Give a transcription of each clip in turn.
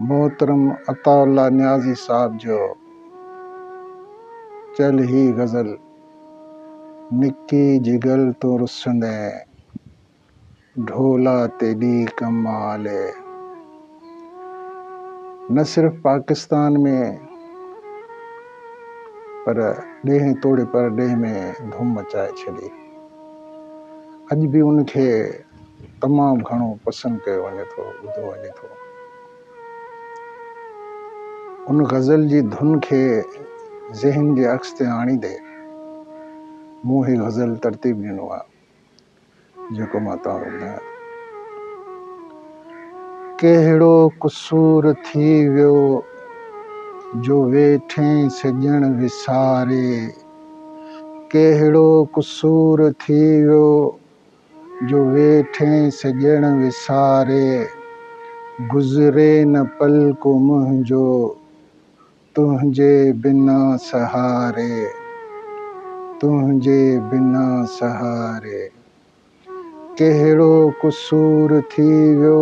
محترم عطاء الله نيازي صاحب جو چيل هي غزل نڪي جگل تون رسندين ڍولا تيڏي ڪم آلي نه صرف پاڪستان ۾ پر ڏيهين توڙي پرڏيهه ۾ ڌوم مچائي ڇڏي اڄ به ان کي تمام گهڻو پسند ڪيو وڃي ٿو ٻڌو وڃي ٿو ان غزل جي ڌن کي ذهن جي عڪس تي آڻيندي مون هي غزل ترتيب ڏنو آهي جيڪو مان توهان کي ٻڌايان ڪهڙو قصور ٿي ويو جو ويٺين سڄڻ وساري ڪهڙو قصور ٿي ويو جو ويٺين سڄڻ وساري، گذري نه پل ڪو منهنجو، تنهنجي بنا سهاري، تنهنجي بنا سهاري. ڪهڙو قصور ٿي ويو.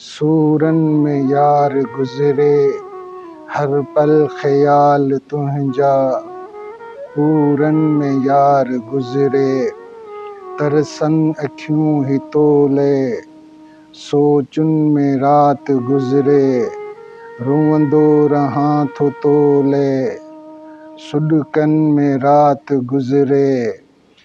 سورن ۾ يار گذري هر پل خيال تنهنجا پورن ۾ يار گذري ترسن اکيون هي تولئي سوچن ۾ رات گذري روئندو رهان ٿو تولئي سڏڪن ۾ رات گذري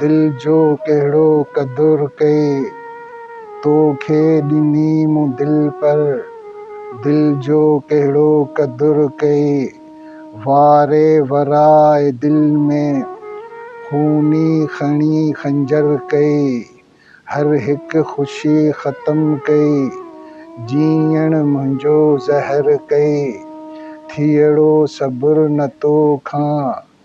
دل جو ڪهڙو قدر ڪئي تو کي ڏني مون دل پر دل جو ڪهڙو قدر ڪئي واري ورائي دل ۾ خوني کڻي خنجر ڪئي هر هڪ خوشي ختم ڪئي جيئڻ منهنجو زهر ڪئي ٿيئڙو صبر نه تو کان